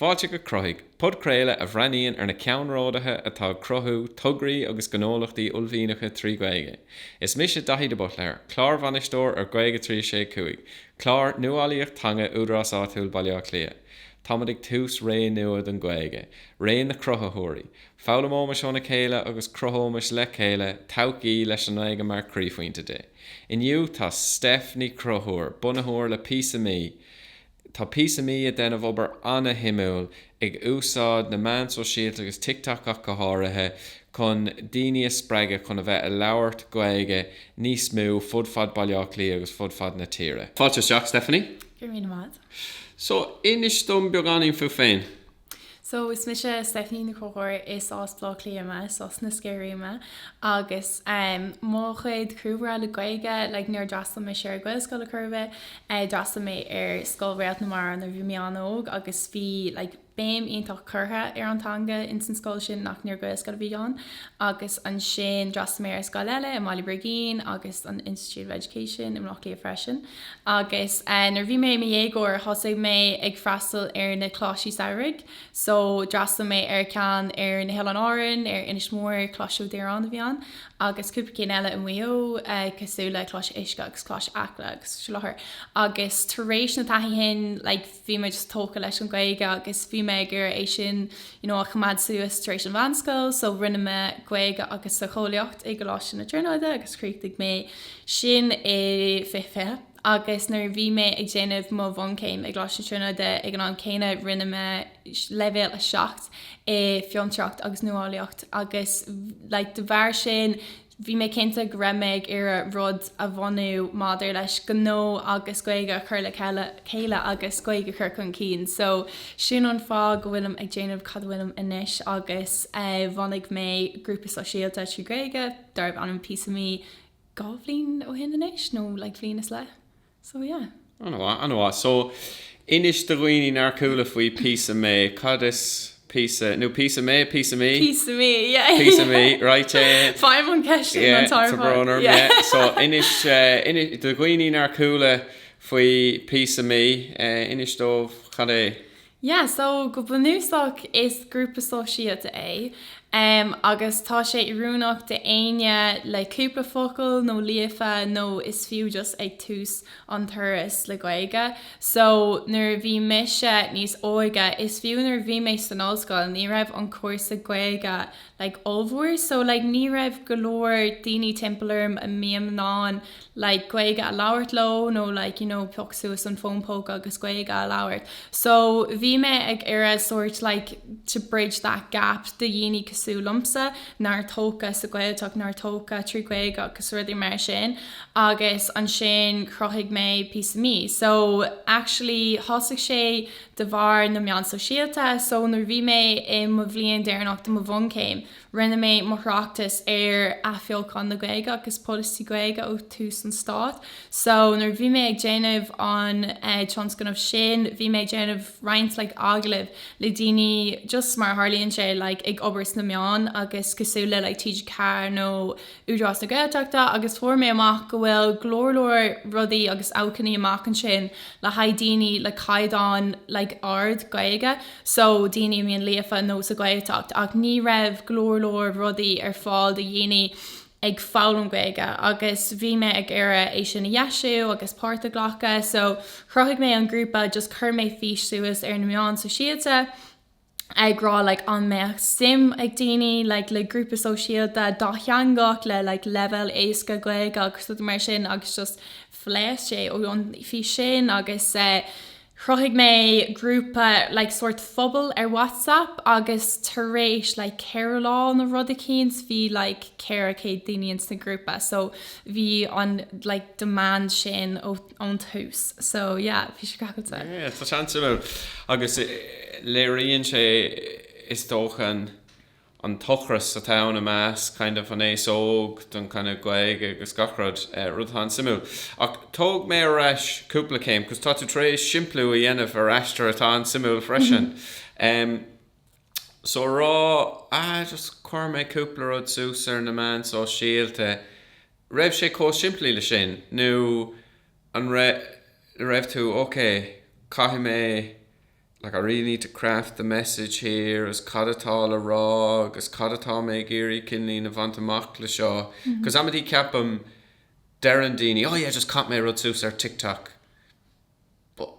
Fáilte go Cruthaigh, podchraoladh a bhreathnaíonn ar na ceannródaithe atá ag cruthú tograí agus gnólachtaí uaillmhianacha trí Ghaeilge. Is mise Daithí de Buitléar, Clárbhainisteoir ar Gaeilge 365, clár nuálaíocht teanga Údarás Áitiúil Bhaile Átha Cliath. Táimid ag tús ré nua don Ghaeilge, ré na cruthaitheoirí. Foghlaimeoimis óna céile agus cruthóimis le chéile todhchaí leis an nGaeilge mar chroíphointe di. Inniu tá Stephanie Ní Chonchúir, bunaitheoir le Píosa Mí, tá Píosa Mí ag déanamh obair ana-shuimiúil ag úsáid na meán sóisialta agus TikTok ach go háirithe, chun daoine a spreagadh chun a bheith ag labhairt Gaeilge níos mó fud fad Baile Átha Cliath agus fud fad na tíre. Fáilte isteach Stephanie. Go raibh míle maith agat. So, inis dom beagáinín fút féin. So, is mise Stephanie Ní Chonchúir, is as Baile Átha Cliath mé, is as na Sceirí mé agus em mo chuid cúlra le Gaeilge like níor d'fhreastail mise ar Ghaelscoil ar chor ar bith, eh d'fhreastail mé ar Scoil Réalt na Mara nuair a bhí mé an-óg agus bhí like béim iontach curtha ar an teanga in san scoil sin ach níor Ghaelscoil a bhí ann agus ansin d'fhreastail mé ar scoil eile i mBaile Brigín agus an Institute of Education i mBleá Cliath freisin. Agus nuair a bhí mé i mo dhéagóir, thosaigh mé ag freastal ar na Coláistí Samhraidh. So, d'fhreastail mé ar ceann ar na hOileáin Árann, ar Inis Mór, Coláiste Ó Direáin a bhí ann, agus cúpla cinn eile i Maigh Eo, cosúil le Coláiste Uisce agus Coláiste Acla agus Seo Leat. Agus tar éis na taithí shin, like, bhí mé just tógtha leis an Ghaeilge agus bhí mé ag iarraidh é sin you know a choimeád suas tar éis an mheánscoil so rinne mé Gaeilge agus Socheolaíocht i gColáiste na Tríonóide agus chríochnaigh mé sin i 2020 agus nuair a bhí mé ag déanamh mo bhunchéim i gColáiste na Tríonóide ag an am céanna rinne mé leibhéal 7 i bhFiontraíocht agus Nuálaíocht agus like de bharr sin Bhí mé cinnte go raibh mé ag iarraidh rud a bhunú maidir leis gnó agus Gaeilge a chur le chéile agus Gaeilge a chur chun cinn. So sin an fáth go bhfuilim ag déanamh cad a bhfuilim anois agus bhunaigh mé grúpa sóisialta trí Gaeilge darbh ainm Píosa Mí dhá bhliain ó shin anois nó like bhliain is leith. So yeah. Ana mhaith, ana mhaith. So, inis do dhaoine nár chuala faoi píosa mé. Cad is píosa, nó píosa mé, píosa mí? Píosa mí, yeah. Píosa mí, right, eh. Faighim an cheist sin an t-am ar fad, yeah. Tá brón orm, yeah. So, inis, eh, inis do dhaoine nár chuala faoi píosa mí, eh, inis dóibh cad é. Yeah, so go bunúsach is grúpa sóisialta é em agus tá sé oiriúnach d'éinne le cúpla focal nó líofa nó is fiú just ag tús an turas le Gaeilge so nuair a bhí mise níos óige is fiú nuair a bhí mé san ollscoil ní raibh an cúrsa Gaeilge like ollmhór so like ní raibh go leor daoine timpeall orm a mbínn in ann like Gaeilge a labhairt leo nó like you know piocadh suas an fón póca agus Gaeilge a labhairt so bhí mé ag iarraidh sóirt like to bridge that gap do dhaoine cosúil liomsa nár tógadh sa Gaeltacht nár tógadh trí Gaeilge agus rudaí mar sin agus ansin chruthaigh mé píosa mí so actually thosaigh sé de bharr na meán sóisialta so nuair bhí mé i mo bhliain deireanach de mo bhunchéim Rinne mé mo thráchtas ar Athbheochán na Gaeilge agus Polasaí Gaeilge ó thús an Stáit. So, nuair a bhí mé ag déanamh an tionscnamh sin, bhí mé ag déanamh roinnt like agallamh le daoine just mar a tharlaíonn sé like ag obair sna meáin agus cosúil le like TG4 nó Údarás na Gaeltachta agus fuair mé amach go bhfuil go leor leor rudaí agus acmhainní amach ansin le haghaidh daoine le caighdeán like ard Gaeilge so daoine a mbíonn líofa nó sa Ghaeltacht ach ní raibh go leor leor rudaí ar fáil do dhaoine ag foghlaim Gaeilge agus bhí mé ag iarraidh é sin a dheisiú agus páirt a ghlacadh so chruthaigh mé an grúpa just chuir mé fís suas ar na meáin sóisialta ag rá like an mbeadh suim ag daoine like le grúpa sóisialta dátheangach le like leibhéal éasca Gaeilge agus rud mar sin agus just phléasc sé ó an fhís sin agus eh chruthaigh mé grúpa like sórt pobal ar WhatsApp agus tar éis like ceithre lá nó rud eicínt bhí like ceithre céad daoine ins na grúpa so bhí an like demand sin ó ón tús. So yeah, bhí sé crackáilte. Yeah, tá sé an-suimiúil. Agus eh, léiríonn sé is dócha an, an t-ocras atá ann i measc kind of an t-aos óg don kind of Gaeilge agus gach rud, eh, rud atá an-suimiúil. Ach tóg mé ar ais cúpla céim, cos tá tú tar éis simpliú a dhéanamh ar aistear atá an-suimiúil freisin. Em, So rá, ah, just chuir mé cúpla rud suas ar na meáin sóisialta, raibh sé chomh simplí leis sin nó an raibh, raibh tú, ok, caithfidh mé, like I really need to craft the message here agus cad atá le rá agus cad atá mé ag iarraidh kinda a bhaint amach le seo because amantaí ceapaim deireann daoine, oh yeah, just chaith mé rud suas ar TikTok. but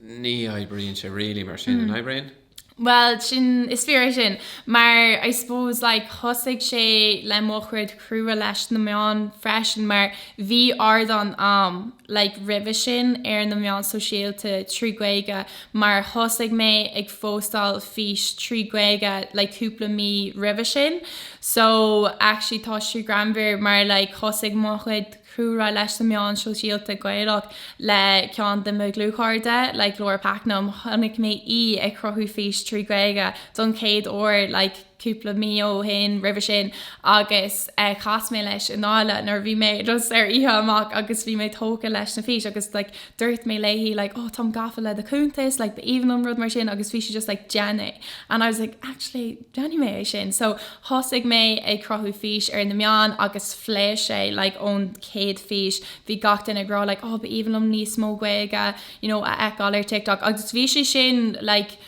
ní oibríonn sé really mar sin, an oibríonn? Bhuel, sin, is fíor é sin. Mar, I suppose, like, thosaigh sé le mo thaithí leis na meáin freisin mar bhí ardán a'm, like, roimhe sin ar na meáin sóisialta trí Ghaeilge mar thosaigh mé ag póstáil fís trí Ghaeilge like cúpla mí roimhe sin. So, actually, tá sé greannmhar mar like thosaigh mo chuid. Cúlra leis na meáin sóisialta Gaeilge Le ceann de mo dhlúthchairde, like Laura Pakenham, chonaic mé í ag cruthú fís trí Ghaeilge don chéad uair like cúpla mí ó shin, roimhe sin agus chas mé leis i nGáillimh nuair a bhí mé just ar oíche amach agus bhí mé tógtha leis na fís agus like dúirt mé léi like oh táim gafa le do chuntas like b'aoibhinn liom rud mar sin agus bhí sí just like déan é and I was like actually Déanfaidh mé é sin. So, thosaigh mé ag cruthú fís ar na meáin agus phléasc sé, like, ón chéad fís, bhí gach duine ag rá, like, oh, ba aoibhinn liom níos mó Gaeilge, you know, a fheiceáil ar TikTok. Agus bhí sé sin, like,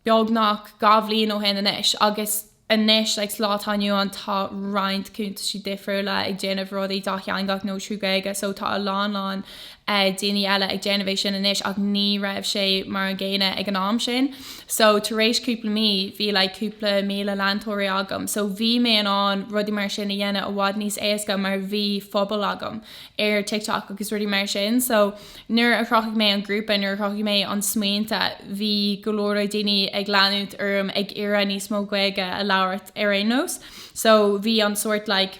beagnach dhá bhliain ó shin anois agus anois, like, sa lá atá inniu ann, tá roinnt cuntaisí difriúla ag déanamh rudaí dátheangach nó trí Ghaeilge, so tá a lán lán, daoine eile ag déanamh é sin anois ach ní raibh sé mar an gcéanna ag an am sin so tar éis cúpla mí bhí like cúpla míle leantóirí agam so bhí mé in ann rudaí mar sin a dhéanamh i bhfad níos éasca mar bhí phobal agam ar TikTok agus rudaí mar sin so nuair a chruthaigh mé an grúpa nuair a chruthaigh mé an smaointe bhí go leor daoine ag leanúint orm ag iarraidh níos mó Gaeilge a labhairt ar aon nós so bhí an sórt like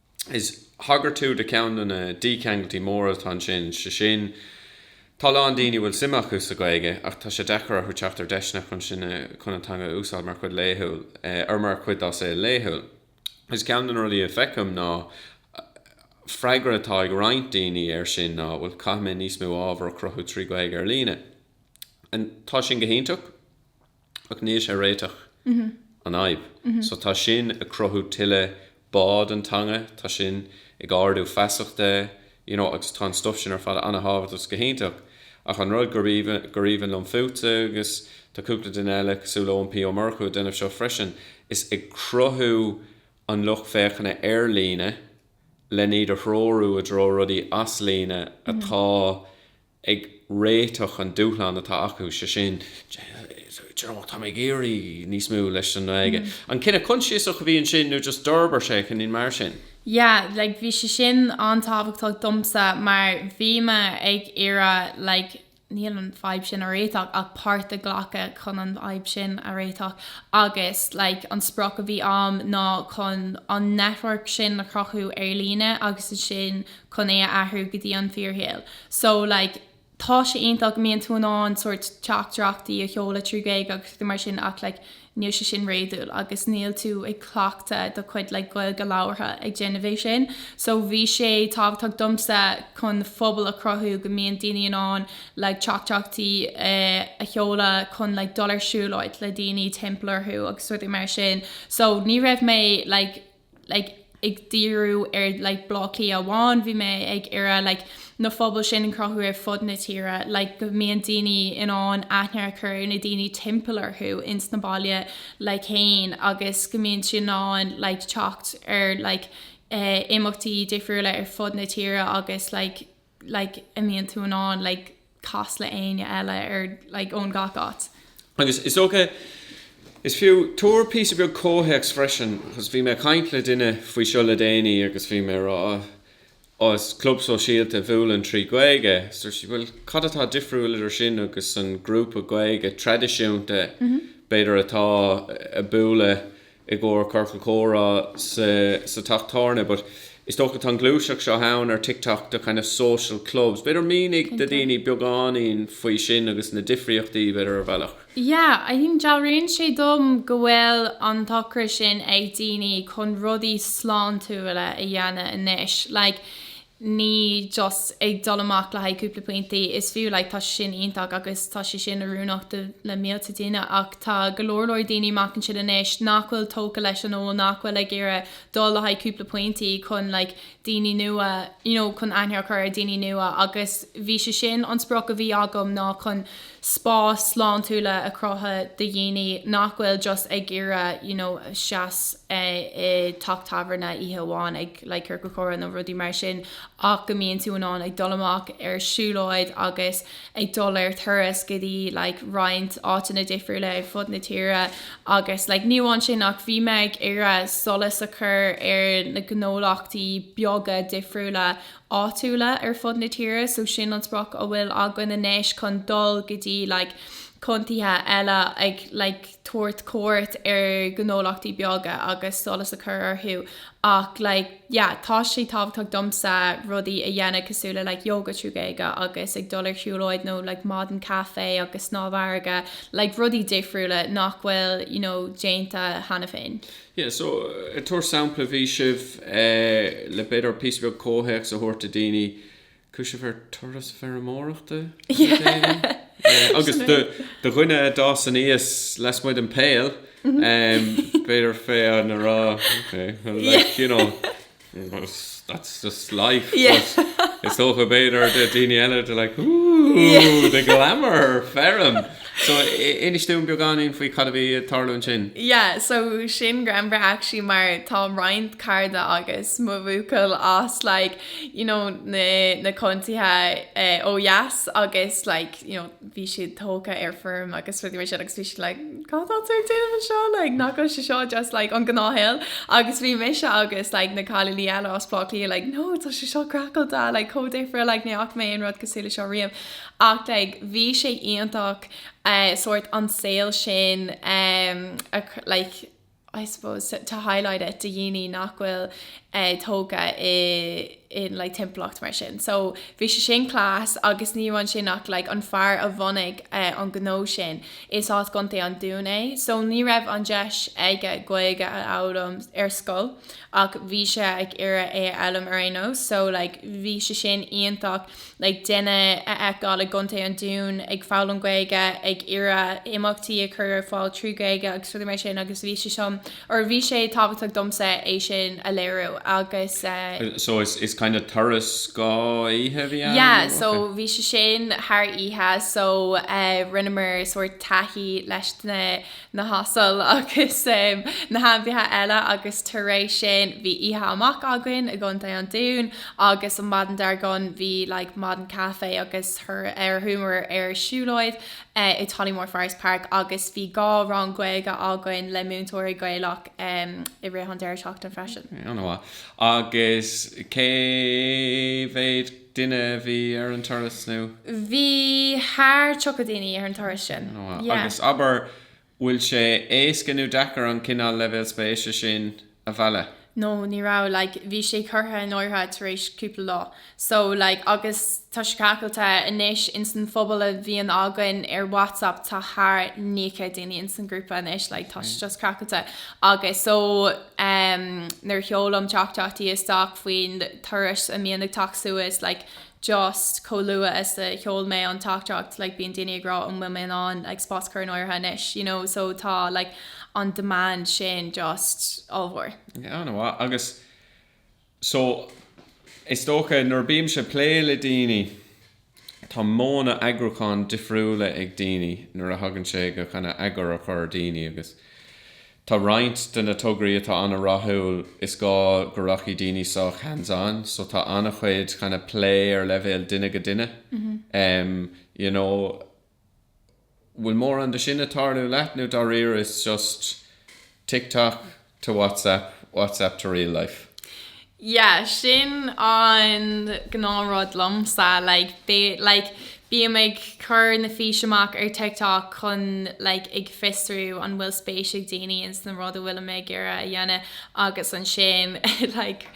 is thagair tú do cheann de na dícheangaltaí móra atá ansin, sé sin, tá a lán daoine a bhfuil suim acu sa Ghaeilge ach tá sé deacair orthu teacht ar deiseanna chun sin a, chun an teanga a úsáid mar chuid laethúil, or mar chuid dá saol laethúil. Is ceann de na rudaí a feicim ná, freagra atá ag roinnt daoine air sin ná, bhuel, caithfimid níos mó ábhar a chruthú trí Ghaeilge ar líne. And tá sin go hiontach. Ach níl sé ag réiteach an fhadhb. So tá sin ag cruthú tuilleadh bá don teanga, tá sin ag ardú feasachta you know agus tá an stuff sin ar fad an-tábhachtach is go hiontach ach an rud gur aoibhinn liom fútsa agus tá cúpla duine eile cosúil Eoin P. Ó Murchú ag déanamh seo freisin is ag cruthú an lucht féachana ar líne len iad a threorú i dtreo rudaí as líne atá ag réiteach an dúshlán atá acu, sé sin, d'you know, tá mé ag iarraidh níos mó leis an nGaeilge. An cinneadh consiasach a bhí ansin nó just d'fhorbair sé chun cinn mar sin? Yeah, like bhí sé sin an-tábhachtach domsa mar bhí mé ag iarraidh like níl an fadhb sin a réiteach ach páirt a ghlacadh chun an fhadhb sin a réiteach agus like an sprioc a bhí a'm ná chun an network sin a chruthú ar líne agus ansin chun é a athrú go dtí an fíorshaol. So, like, tá sé iontach go mbíonn tú in ann sórt teachtaireachtaí a sheoladh trí Ghaeilge agus rudaí mar sin ach, like, níl sé sin réadúil agus níl tú ag cleachtadh do chuid, like, Gaeilge labhartha ag déanamh é sin. So, bhí sé tábhachtach domsa chun phobal a chruthú go mbíonn daoine in ann, like, teachtaireachtaí a sheoladh chun, like, dul ar siúlóid le daoine timpeall orthu agus rudaí mar sin. So, ní raibh mé, like, like ag díriú ar like Bláth Cliath amháin bhí mé ag iarraidh like na phobail sin a chruthú ar fud na tíre like go mbíonn daoine in ann aithne a chur ar na daoine timpeall orthu ins na baile like fhéin agus go mbíonn siad in ann like teacht ar like eh imeachtaí difriúla ar fud na tíre agus like like, go mbíonn tú in ann like, casadh le éinne eile ar like, ón gach áit. Agus is dócha is fiú tabhair píosa beag comhthéacs freisin because bhí mé ag caint le duine faoi seo le déanaí agus bhí mé ag rá oh is club sóisialta a bhuaileann trí Gaeilge so dúirt sí bhuel cad atá difriúil idir sin agus an grúpa Gaeilge traidisiúnta b'fhéidir atá ag bualadh i gcomhair Ciorcal Comhrá sa teach tábhairne but is dócha tá an gluaiseacht seo ann ar TikTok de kind of social clubs b'fhéidir mínigh do dhaoine beagáinín faoi sin agus na difríochtaí b'fhéidir ar bhealach. Yeah, I think dealraíonn sé dom go bhfuil an t-ocras sin ag daoine chun rudaí sláintiúla a dhéanamh anois. Like, ní just ag dul amach le haghaidh cúpla pointí, is fiú, like tá sé sin iontach agus tá sé sin oiriúnach le mílte daoine ach tá go leor leor daoine amach ansin anois nach bhfuil tógtha leis an ól nach bhfuil ag iarraidh dul le haghaidh cúpla pointí chun like daoine nua you know chun aithne a chur ar daoine nua agus bhí sé sin an sprioc a bhí agam ná chun spás sláintiúla a chruthú do dhaoine nach bhfuil just ag iarraidh you know seasamh i teach tábhairne oíche amháin ag like Ciorcal Comhrá nó rudaí mar sin ach go mbíonn tú in ann ag dul amach ar siúlóid agus ag dul ar turas go dtí like roinnt áiteanna difriúla ar fud na tíre agus like ní amháin sin ach bhí mé ag iarraidh solas a chur ar na gnólachtaí beaga difriúla áitiúla ar fud na tíre so sin an sprioc a bhfuil againn anois chun dul go dtí like contaetha eile ag like tabhairt cuairt ar ghnólachtaí beaga agus solas a chur orthu ach like yeah tá sé tábhachtach domsa rudaí a dhéanamh cosúil le like Yoga trí Ghaeilge agus ag dul ar shiúlóid nó like maidin caife agus snámh farraige like rudaí difriúla nach bhfuil you know déanta cheana féin. Yeah, so ag tabhairt sampla bhí sibh le b'fhéidir píosa beag comhthéacs a thabhairt do daoine chuaigh sibh ar turas feirmeoireachta agus do dhuine a d'fhás aníos lasmuigh den Pale b'fhéidir féidir linn rá That's just life, but is dócha b'fhéidir do dhaoine eile they're like ooh the glamour, feirm! So inis dúinn beagáinín faoi cad a bhí ag tarlú ansin. Yeah, so sin greannmhar actually mar tá roinnt cairde agus mo bhuachaill as like, you know, na contaetha ó dheas agus like, you know, bhí siad tógtha ar foirm agus rudaí mar sin agus bhí siad like cá tá tú ag déanamh anseo? like nach bhfuil sé seo just like an gnáthshaol? agus bhí mise agus like na cailíní eile as Bleá Cliath like no tá sé seo craiceáilte like chomh difriúil like ní fhaca mé aon rud cosúil leis seo riamh ach like bhí sé iontach eh sórt an saol sin eh like I suppose, to highlight it do dhaoine nach bhfuil tógtha i in like timpeallacht mar sin. So bhí sé sin class agus ní amháin sin ach like an fear a bhunaigh an gnó sin, is as gContae an Dúin é. So ní raibh an deis aige Gaeilge a fhoghlaim ar scoil. ach bhí sé ag iarraidh é a fhoghlaim ar aon nós so like bhí sé sin iontach like duine a fheiceáil i gContae an Dúin ag foghlaim Gaeilge ag iarraidh imeachtaí a chur ar fáil trí Ghaeilge agus rudaí mar sin agus bhí sé sin or bhí sé tábhachtach domsa é sin a léiriú agus eh so it's kind of turas dhá oíche a bhí ann yeah nó? so okay bhí sé sin thar oíche so eh rinneamar sórt taithí leis na na hasail agus na hainmhithe eile agus tar éis sin bhí oíche amach againn i gContae an Dúin agus an maidin dar gcionn bhí like maidin caife agus ar chuamar ar siúlóid i Tollymore Forest Park agus bhí dhá rang Gaeilge againn le múinteoirí Gaeilge i rith an deireadh seachtaine freisin. An-mhaith. Agus cé mhéad duine a bhí ar an turas nó. Bhí thar 30 daoine ar an turas sin. Agus abair, bhfuil sé éasca nó deacair an cineál leibhéal spéise sin a mhealladh? No, ní raibh, like, bhí sé curtha in áirithe tar éis cúpla lá. So, like, agus tá sé craiceáilte anois ins an phobal a bhíonn againn ar WhatsApp, tá thar naoi céad daoine ins an ghrúpa anois, like, tá sé just craiceáilte. Agus so. em nuair a sheolaim teachtaireachtaí isteach faoin turas a mbíonn ag teacht suas like just chomh luath is a sheol mé an teachtaireacht like bíonn daoine ag rá an bhfuil mé in ann like spás a chur in áirithe anois you know so tá like an demand sin just ollmhór. Yeah, an-mhaith. Agus. So, is dócha, nuair a bímse ag plé le daoine, tá modhanna eagrúcháin difriúla ag daoine nuair a thagann sé go kind of eagar a chur ar daoine agus tá roinnt de na tograí atá an-rathúil, is gá go rachaidh daoine sách hands on so tá an-chuid kind of plé ar leibhéal duine go duine, you know. bhfuil mórán de sin ag tarlú leat nó dáiríre is just TikTok to WhatsApp, WhatsApp to real life? Yeah, sin an gnáth-rud liomsa, like, like, bím ag cur na fís amach ar TikTok chun, like, ag fiosrú an bhfuil spéis ag daoine ins na rud a bhfuilim ag iarraidh a dhéanamh agus ansin, like,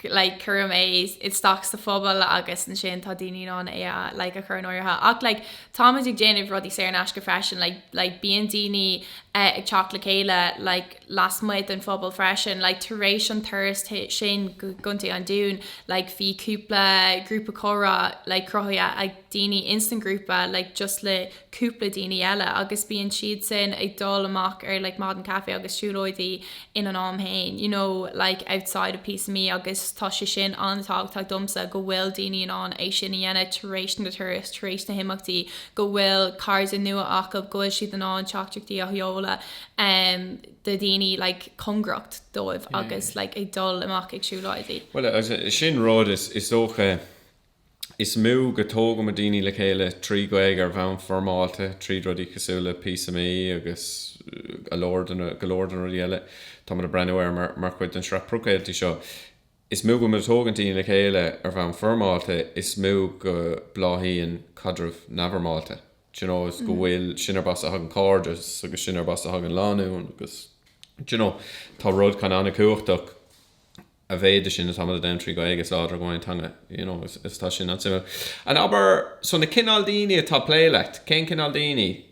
like cuirim é isteach sa phobal agus ansin tá daoine in ann é like a chur in áirithe ach like táimid ag déanamh rudaí saor in aisce freisin like like bíonn daoine eh, ag teacht le chéile like lasmuigh den phobal freisin like tar éis an turas sin go Contae an Dúin like bhí cúpla grúpa comhrá like cruthaithe ag daoine ins an grúpa like just le cúpla daoine eile agus bíonn siad sin ag dul amach ar like maidin caife agus siúlóidí ina n-am fhéin you know like outside of Píosa Mé agus tá sé sin an-tábhachtach domsa go bhfuil daoine in ann é sin a dhéanamh tar éis na turas tar éis na himeachtaí go bhfuil cairde nua acab go bhfuil siad in ann teachtaireachtaí a sheoladh um, do dhaoine like cóngarach dóibh yeah. agus like ag dul amach ag siúlóidí Well, sin rud is, is dócha Is mó go dtógaimid daoine le chéile trí Ghaeilge ar bhonn foirmeálta, tríd rudaí cosúil le Píosa Mé agus go leor de na, go leor de na rudaí eile táimid ag breathnú air mar, mar chuid den sraith podchraoltaí seo. Is mó go dtógann daoine le chéile ar bhonn foirmeálta, is mó go bláthaíonn caidreamh neamhfhoirmeálta. Do you know, is go bhfuil, sin an áit as a thagann cairdeas agus sin an áit as a thagann lánúin agus, do you know, tá rud eicínt an-chumhachtach. a mhéid de sin atá muid a déanamh trí Ghaeilge is láidre go mbíonn an teanga you know is is tá sin an-suimiúil and abair so na cineál daoine atá ag plé leat cén cineál daoine?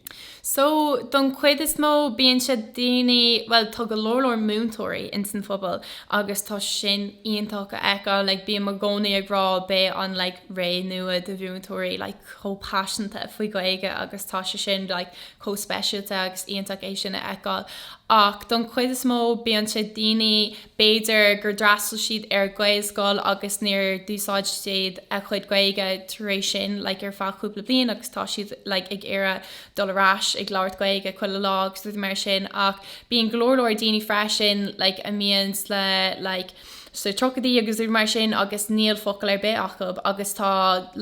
So don chuid is mó bíonn sé daoine bhuel tá go leor leor múinteoirí ins an phobal agus tá sin iontach a fheiceáil like bím i gcónaí ag rá beidh an like ré nua de mhúinteoirí like chomh paiseanta faoi Ghaeilge agus tá sé sin like chomh speisialta agus iontach é sin a fheiceáil ach don chuid is mó bíonn sé daoine b'fhéidir gur d'fhreastal siad ar Ghaelscoil agus níor d'úsáid siad a chuid Gaeilge tar éis sin like ar feadh cúpla bliain agus tá siad like ag iarraidh dul ar ais ag labhairt Gaeilge chuile lá agus rudaí mar sin ach bíonn go leor leor daoine freisin like a mbíonn like sna tríochaidí agus rudaí mar sin agus níl focal ar bith acu agus tá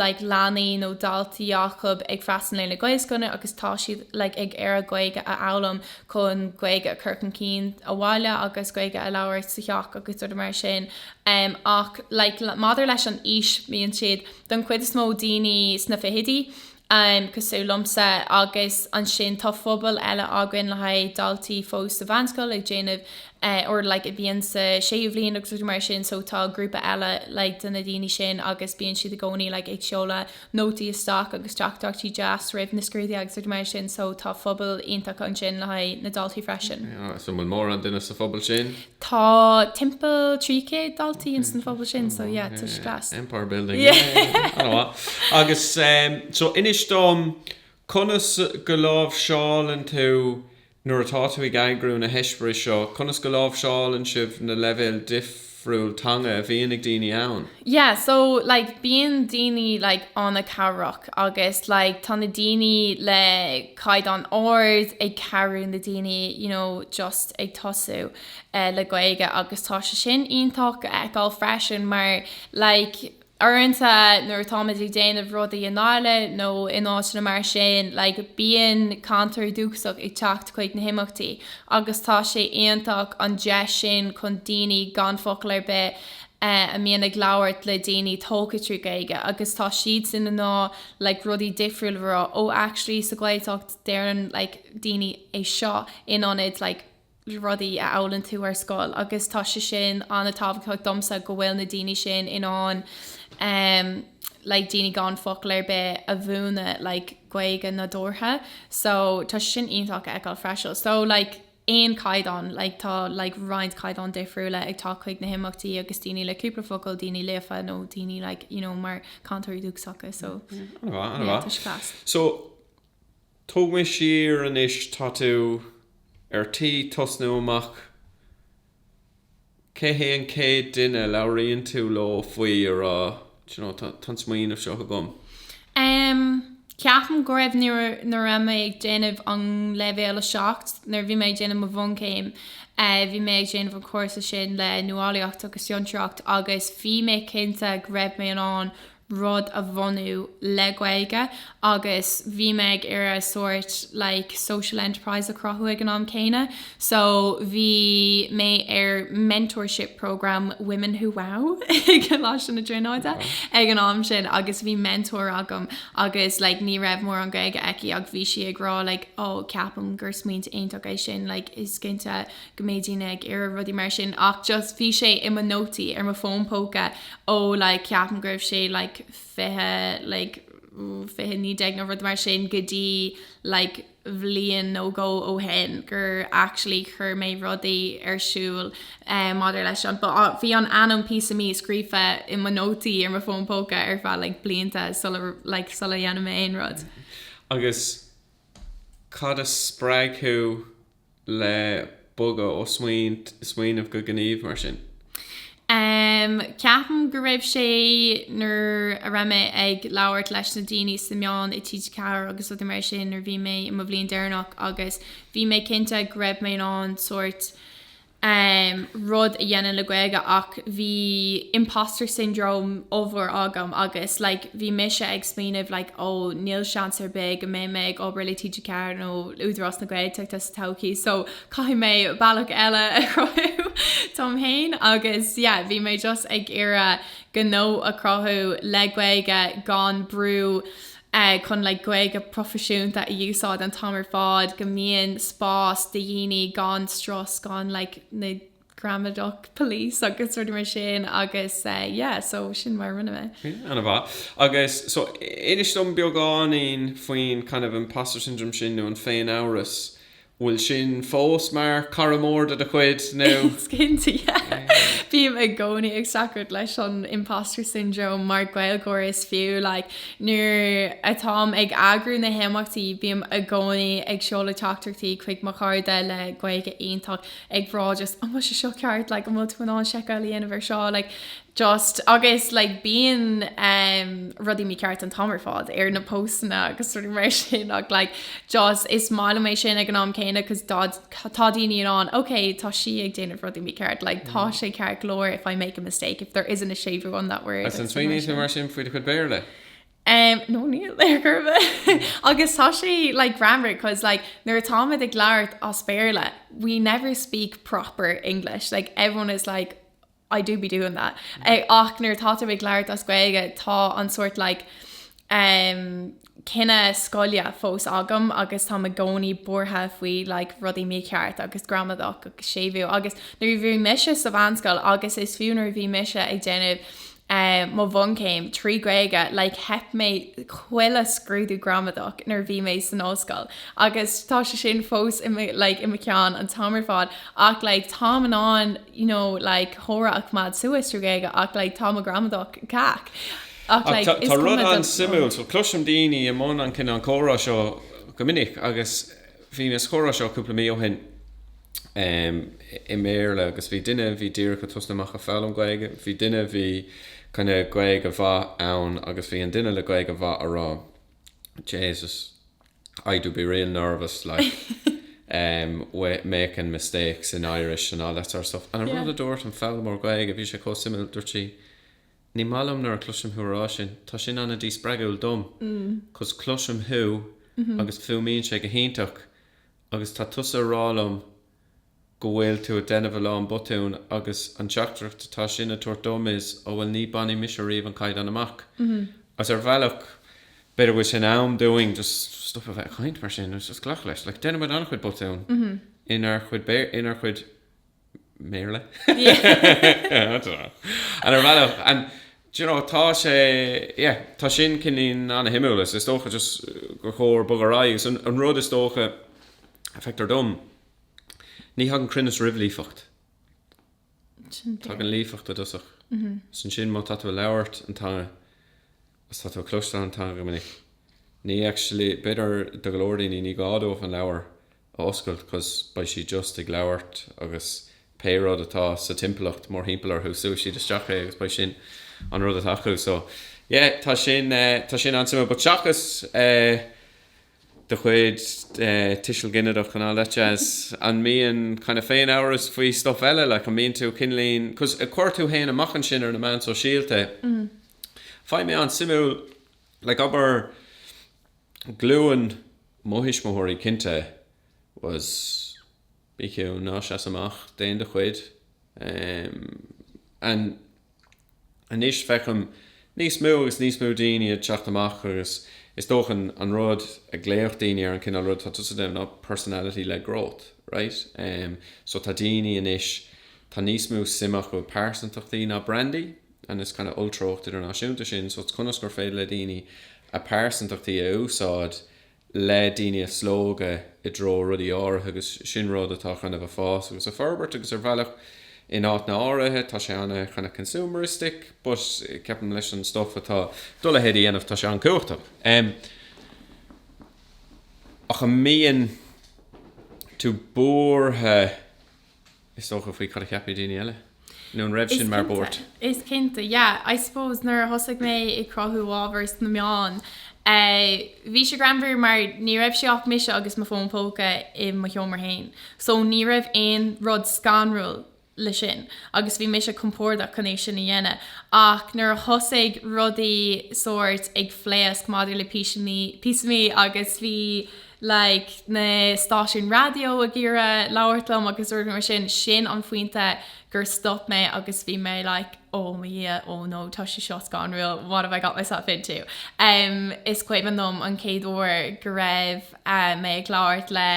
like leanaí nó daltaí acu ag freastal ar na Gaelscoileanna agus tá siad like ag iarraidh Gaeilge a fhoghlaim chun Gaeilge a chur chun cinn sa bhaile agus Gaeilge a labhairt sa theach agus rudaí mar sin ach like maidir leis an aois mbíonn siad don chuid is mó daoine sna fichidí cosúil liomsa agus ansin tá pobal eile againn le haghaidh daltaí fós sa mheánscoil ag déanamh or like a bhíonn sa séú bhliain agus rudaí mar sin so tá grúpa eile like de na daoine sin agus bíonn siad i gcónaí like ag seoladh nótaí isteach agus teachtaireachtaí deas roimh na scrúduithe agus rudaí mar sin so tá pobal iontach ansin le haghaidh na ndaltaí freisin. An bhfuil mórán duine sa phobal sin? Tá timpeall trí chéad daltaí ins an phobal sin so yeah tá sé deas. Empire building yeah an-mhaith agus so inis dom conas go láimhseálann tú Nuair atá tú ag eagrú na heispéiris seo, conas go láimhseálann sibh na leibhéil difriúil teanga a bhíonn ag daoine ann? Yeah, so like bíonn daoine like an-cabhrach agus like tá na daoine le caighdeán ard ag cabhrú na daoine you know just ag tosú le Gaeilge agus tá sé sin iontach a fheiceáil freisin mar like Uaireanta nuair atáimid ag déanamh rudaí in Áil nó in áiteanna mar sin like bíonn cainteoirí dúchasach ag teacht chuig na himeachtaí agus tá sé iontach an deis sin chun daoine gan focal ar bith a mbíonn ag labhairt le daoine tógtha trí Gaeilge agus tá siadsan in ann like rudaí difriúla a rá oh actually sa Ghaeltacht deireann like daoine é seo in ionad like rudaí a fhoghlaimíonn tú ar scoil agus tá sé sin an-tábhachtach domsa go bhfuil na daoine sin in ann like daoine gan focal ar bith a mhúineadh like Gaeilge nádúrtha so tá sé sin iontach a fheiceáil freisin. So like aon chaighdeán like tá like roinnt caighdeán difriúla ag teacht chuig na himeachtaí agus daoine le cúpla focal daoine líofa nó daoine like you know mar cainteoirí dúchasacha so yeah tá sé class. So Tóg mé siar anois tá tú ar tí tosnú amach cé hé an céad duine a labhraíonn tú leo faoi a rá do you know tá an smaoineamh seo agam? Em ceapaim go raibh nuair a raibh mé ag déanamh an leibhéal a seacht nuair a bhí mé ag déanamh mo bhunchéim eh bhí mé ag déanamh an cúrsa sin le nuálaíocht agus fiontraíocht agus bhí mé cinnte go raibh mé in ann rud a bhunú le Gaeilge agus bhí mé ag iarraidh sórt like social enterprise a chruthú ag an am céanna so bhí mé ar mentorship programme Women Who Wow i gColáiste na Tríonóide ag an am sin agus bhí mentor agam agus like ní raibh mórán Gaeilge aici ach bhí sí ag rá like oh ceapaim gur smaointe iontach é sin like is cinnte go mbeidh daoine ag iarraidh rudaí mar sin ach just bhí sé i mo nótaí ar mo fón póca ó like ceapaim go raibh sé like fiche like fiche naoi déag nó rud mar sin go dtí like bhliain nó dhó ó shin gur actually chur mé rudaí ar siúl eh, maidir leis an but ah, bhí an ainm Píosa Mí scríofa i mo nótaí ar mo fón póca ar feadh like blianta sula like sula dhéan mé aon rud. Agus cad a spreag thú le bogadh ó smaoint smaoineamh go gníomh mar sin? Em, ceapaim go raibh sé, nuair a raibh mé ag labhairt leis na daoine sa meáin i TG4 agus rudaí mar sin nuair a bhí mé i mo bhliain deireanach agus bhí mé cinnte go raibh mé in ann sórt, aon rud a dhéanann le Gaeilge ach bhí imposter syndrome ollmhór agam agus like bhí mise ag smaoineamh like oh níl seans ar bith go mbeidh mé ag obair le TG4 nó Údarás na Gaeltachta sa todhchaí so caithfidh mé bealach eile a chruthú dom féin agus yeah bhí mé just ag iarradh gnó a chruthú le Gaeilge gan brú chun like Gaeilge proifisiúnta a úsáid an t-am ar fad, go mbíonn spás do dhaoine gan strus, gan like na gramadach police agus rudaí mar sin agus eh yeah so sin mar a rinne mé. Yeah, an-mhaith. Agus so inis dom beagáinín faoin kind of imposter syndrome sin nó an féin-amhras bhfuil sin fós mar cara mór de do chuid, nó? Cinnte. Bím i gcónaí ag streachailt leis an imposter syndrome mar Gaeilgeoir is fiú. Like, nuair atáim ag eagrú na himeachtaí, bím i gcónaí ag seoladh teachtaireachtaí chuig mo chairde le Gaeilge iontach, ag rá just, an bhfuil sé seo ceart? Like, an bhfuil tú in ann seiceáil a dhéanamh ar seo? Like, just agus like bíonn um rudaí mícheart an t-am ar fad ar na póstanna agus rudaí mar sin ach like just is maith liom é sin ag an am céanna cos tá daoine in ann ok tá sí ag déanamh rudaí mícheart like tá mm. sé ceart go leor if I make a mistake if there isn't a séimhiú on that word Agus an smaoiníonn tú mar sin faoi do chuid Béarla? Um, nó níl ar chor ar bith mm. agus tá sé like greannmhar cos like nuair atáimid ag labhairt as Béarla we never speak proper English like everyone is like I do be doing that eh ach nuair atá tú ag labhairt as Gaeilge tá an sórt like em cuimhne scoile fós agam agus táim i gcónaí buartha faoi like rudaí mícheart agus gramadach agus séimhiú agus nuair a bhí mise sa bhunscoil agus is fiú nuair a bhí mise ag déanamh eh mo bhunchéim trí Gaeilge like theip mé chuile scrúdú gramadach nuair a bhí mé san ollscoil agus tá sé sin fós i mo like i mo cheann an t-am ar fad ach like táim in ann you know, like comhrá a choimeád suas trí Ghaeilge ach like tá mo ghramadach cac ach like is cuma dom. Ach tá rud an-suimiúil, so cloisim daoine i mbun an cineál comhrá seo go minic agus bhí an comhrá seo cúpla mí ó shin i mBéarla agus bhí duine bhí díreach ag tosnú amach ag foghlaim Gaeilge, bhí duine bhí kind of Gaeilge mhaith aige agus bhí an duine le Gaeilge mhaith ag rá Jesus. I do be real nervous like em with making mistakes in Irish and all that sort of stuff and I yeah. rud a dúirt an foghlaimeoir Gaeilge bhí sé chomh suimiúil dúirt sí ní maith liom nuair a chloisim thú ag rá sin tá sin an-díspreagúil dom mm. cos cloisim thú mm-hmm. agus fuaimíonn sé go hiontach agus tá tusa ag rá liom go bhfuil tú a' déanamh a lán botún agus an teachtaireacht atá sin a' tabhairt dom is, ó bhuel ní bainfidh mise ariamh an caighdeán amach agus ar bhealach b'fhéidir go bhfuil sé in am dúinn just stop a bheith a' caint mar sin agus just glacadh leis, like déanaimid an-chuid botún inár chuid, inár chuid Béarla I don't know and ar bhealach and d'you know tá sé, yeah, tá sin cineál an-shuimiúil is is dócha just gur chóir bogadh ar aghaidh agus an rud is dócha a feictear dom. Ní thagann cruinneas roimh líofacht. Sin fíor. Tagann líofacht i dtosach. Is ansin má tá tú ag labhairt an teanga agus tá tú ag cloisteáil an teanga go minic, ní actually, b'fhéidir do go leor daoine ní gá dóibh an leabhar a oscailt cause beidh siad just ag labhairt agus pé rud atá sa timpeallacht mórthimpeall orthu súfaidh siad isteach é agus beidh sin an rud atá acu so yeah tá sin tá sin an-suimiúil but seachas eh de chuid tuiseal ginideach and the likes, an mbíonn kind of féinamhras faoi stuff eile like an mbíonn tú ag cuimhneamh conas a cuir tú féin amach ansin ar na meán sóisialta faighim é an-suimiúil like abair glúin mo thuismitheoirí cinnte was Bí ciúin, ná seas amach, déan do chuid. Anois feicim níos mó agus níos mó daoine ag teacht amach agus is dócha an rud a glaodh daoine ar an cineál rud atá tusa ag déanamh ná personality led growth, right? So tá daoine anois, tá níos mó suim acu i pearsantachtaí ná brandaí and is kind of treocht idirnáisiúnta sin so it's conas gur féidir le daoine a pearsantachtaí a úsáid le daoine a slógadh i dtreo rudaí áirithe agus sin rud atá kind of ag fás agus ag forbairt agus ar bhealach in áiteanna áirithe tá sé ana kind of consumeristic but ceapaim leis an stuff atá Duolingo a dhéanamh tá sé an-chumhachtach em ach an mbíonn tú buartha is dócha, faoi cad a cheapfaidh daoine eile. Nó an raibh sin mar buairt? Is cinnte. Yeah, I suppose nuair a thosaigh mé ag cruthú ábhar sna meáin, eh, bhí sé greannmhar mar ní raibh sé ach mise agus mo fón póca i mo sheomra féin. So ní raibh aon rud scanrúil leis sin agus bhí mise compordach chun é sin a dhéanamh. Ach nuair a thosaigh rudaí sórt ag phléasc maidir le píosa mí agus bhí, like, na stáisiúin raidió ag iarraidh labhairt liom agus rudaí mar sin, sin an phointe gur stop mé agus bhí mé like oh mo dhia oh no tá sé seo scanrúil what have I got myself into. Em is cuimhin liom an chéad uair go raibh eh mé ag labhairt le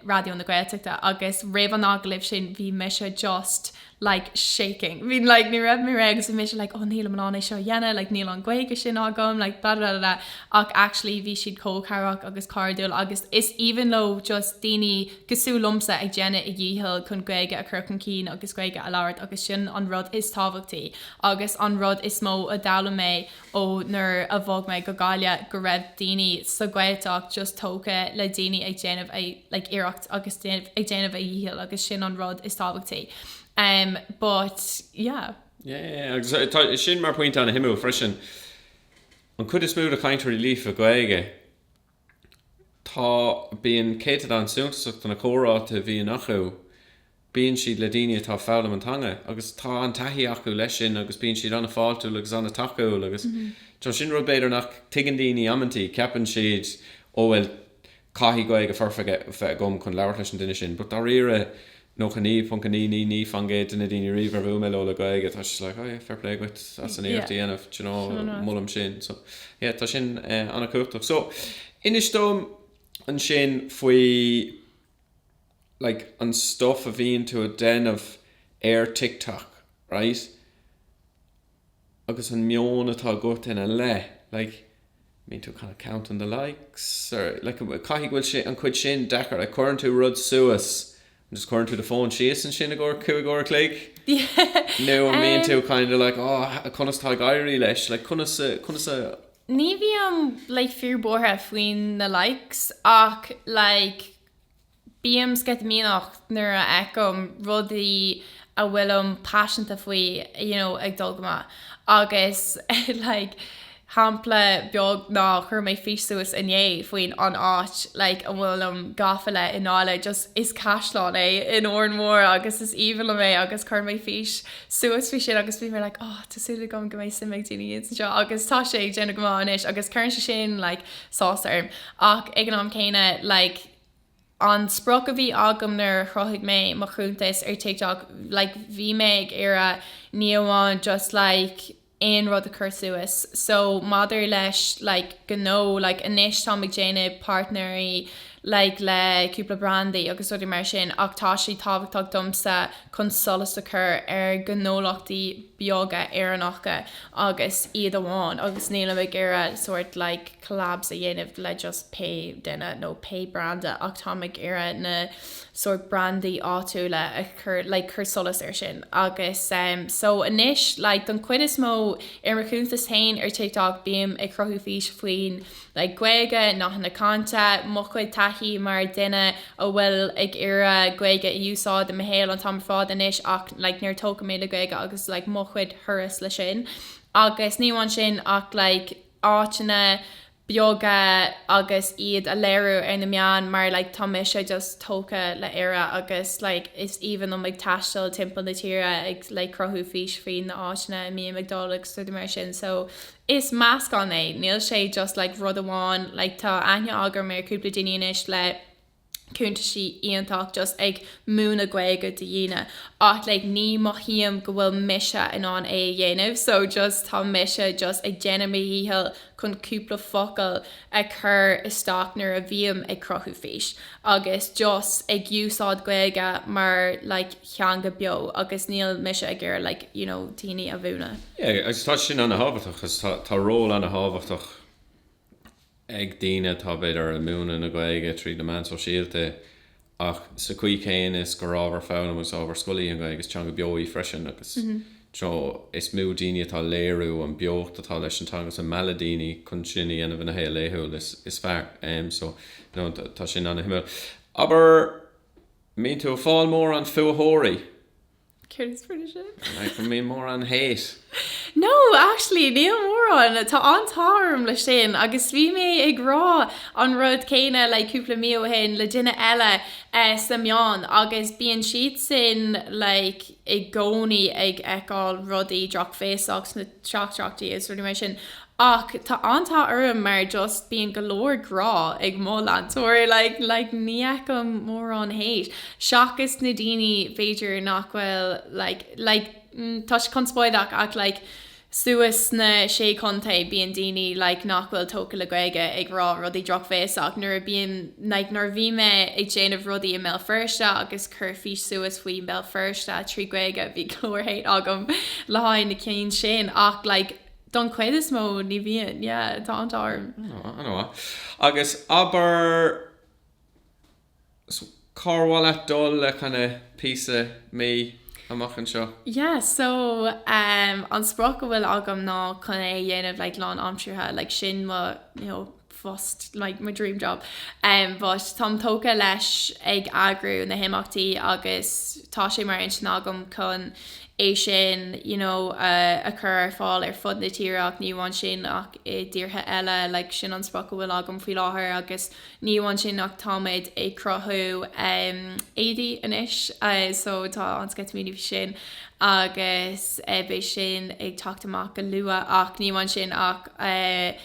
Raidió na Gaeltachta agus roimh an agallamh sin bhí mise just like shaking bhí like ní raibh mé réidh agus bhí mise like oh nílim in ann é seo a dhéanamh like níl an Ghaeilge sin agam like blah blah blah ach actually bhí siad chomh cabhrach agus cairdiúil agus is aoibhinn leo just daoine cosúil liomsa ag déanamh a dhícheall chun Gaeilge a chur chun cinn agus Gaeilge a labhairt agus sin an rud is tábhachtaí agus an rud is mó a d'fhoghlaim mé ó nuair a bhog mé go Gaillimh go raibh daoine sa Ghaeltacht just tógtha le daoine ag déanamh a like iarracht agus ag déanamh a dhícheall agus sin an rud is tábhachtaí um but yeah. Yeah yeah agus tá sin mar pointe an-suimiúil freisin an chuid is mó de chainteoirí líofa Gaeilge tá, bíonn céatadán suntasach de na comhráite a bhíonn acu, bíonn siad le daoine atá ag foghlaim na teanga agus tá an-taithí acu leis sin agus bíonn siad an-fháiltiúil agus an-tacúil agus tá, sin rud b'fhéidir nach dtuigeann daoine amantaí, ceapann siad ó bhuel caithfidh Gaeilge foirfe a bheith agam chun labhairt leis an duine sin but dáiríre, 99.99% de na daoine riamh a bhuail mé leo le Gaeilge tá siad like oh yeah fair play dhuit as an iarracht a dhéanamh do you know molaim sin so yeah tá sin an-chumhachtach. So inis dom ansin faoi like an stuff a bhíonn tú ag déanamh ar TikTok right, agus an meon atá agat ina leith like, an mbíonn tú kind of counting the likes or like caithfidh go bhfuil sé, an chuid sin deacair like cuireann tú rud suas and just cuireann tú do phone síos ansin ar feadh cúig uair a chloig nó an mbíonn tú kind of like oh conas tá ag éirí leis like conas a, conas a Ní bhím like fíor buartha faoin na likes ach like, Bím sceitimíneach nuair a fheicim rudaí a bhfuilim paiseanta faoi you know ag dul go maith agus like shampla beag ná chuir mé fís suas inné faoin an áit like a bhfuilim gafa leis i ndáiríre just is caisleán é in Órán Mór agus is aoibhinn liom é agus chuir mé fís suas faoi sin agus bhí mé like oh tá súil agam go mbeidh suim ag daoine ann seo agus tá sé ag déanamh go maith anois agus cuireann sé sin like áthas orm ach ag an am céanna like an sprioc a bhí agam nuair a chruthaigh mé mo chuntas ar TikTok like bhí mé ag iarraidh ní amháin just like aon rud a chur suas so maidir le like gnó like anois táim ag déanamh páirtnéirí like le cúpla brandaí agus rudaí mar sin ach tá sé tábhachtach domsa chun solas a chur ar ghnólachtaí beaga Éireannacha agus iad amháin agus nílim ag iarraidh sort like collabs a dhéanamh le just pé duine nó pé branda ach táim ag iarraidh na sort brandaí áitiúla a chur like cur solais air sin agus em so anois like don chuid is mó ar mo chuntas féin ar TikTok bím ag cruthú fís faoin le Gaeilge, nathanna cainte, mo chuid taithí mar duine a bhfuil ag iarraidh Gaeilge a úsáid i mo shaol an t-am ar fad anois ach like níor tógadh mé le Gaeilge agus like mo chuid thuras le sin agus ní amháin sin ach like áiteanna beaga agus iad a léiriú ar na meáin mar like tá mise just tógtha le Éire agus like is aoibhinn liom ag taisteal timpeall na tíre ag like cruthú fís faoi na áiteanna a mbím ag dul agus rudaí mar sin so Is meascán é, níl sé just like rud amháin, like tá aithne agam ar cúpla daoine anois le cúntaisí íontach just ag múineadh Gaeilge do dhaoine ach like ní mothaím go bhfuil mise in ann é a dhéanamh so just tá mise just ag déanamh mo dhícheall chun cúpla focal a chur isteach nuair a bhím ag cruthú fís agus just ag úsáid Gaeilge mar like theanga beo agus níl mise ag iarraidh like you know daoine a mhúineadh. Yeah agus tá sin ana thábhachtach cos tá tá ról ana thábhachtach ag daoine atá b'fhéidir ag múineadh na Gaeilge tríd na meáin sóisialta ach sa chaoi chéanna is gurb ábhar foghlama agus ábhar scoile í an Ghaeilge, is teanga beo í freisin agus dá mó daoine atá ag léiriú an beocht atá leis an teanga is ag mealladh daoine chun sin a dhéanamh ina shaol laethúil is fearr. So, you know, tá sin ana-shuimiúil. Abair, mbíonn tú ag fáil mórán fuathóirí? Céard is fuathóirí? Like an mbíonn mórán hate. No, actually, níl mórán. Tá an t-ádh orm leis sin agus bhí mé ag rá an rud céanna like cúpla mí ó shin le duine eile eh sna meáin agus bíonn siadsan like i gcónaí ag fheiceáil rudaí drochbhéasach sna tráchtanna agus rudaí mar sin Ach tá an t-ádh orm mar just bíonn go leor grá ag mo leantóirí like like ní fheicim mórán hate seachas na daoine b'fhéidir nach bhfuil like like tá sé conspóideach ach like suas sna sé chontae bíonn daoine like nach bhfuil tógtha le Gaeilge ag rá rudaí drochbhéasach nuair a bíonn like nuair a bhí mé ag déanamh rudaí i mBéal Feirste agus cur fís suas faoi mBéal Feirste trí Gaeilge bhí go leor hate agam le haghaidh na cinn sin ach like Don chuid is mó ní bhíonn, yeah, tá an t-ádh orm. Oh, ana mhaith. Agus abair, so, cár mhaith leat dul le kind of Píosa Me amach anseo? Yeah, so, um, an sprioc a bhfuil agam ná chun é a dhéanamh like lán aimseartha, like sin mo, you know, phost like my dream job em but táim tógtha leis ag eagrú na himeachtaí agus tá sé mar intinn agam chun é sin you know a chur ar fáil ar fud na tíre ach ní amháin sin ach i dtíortha eile like sin an sprioc a bhfuil agam faoi láthair agus ní amháin sin ach táimid ag cruthú em éadaí anois eh, so tá an-sceitimíní faoi sin agus eh, beidh sin ag teacht amach go luath ach ní amháin sin ach eh,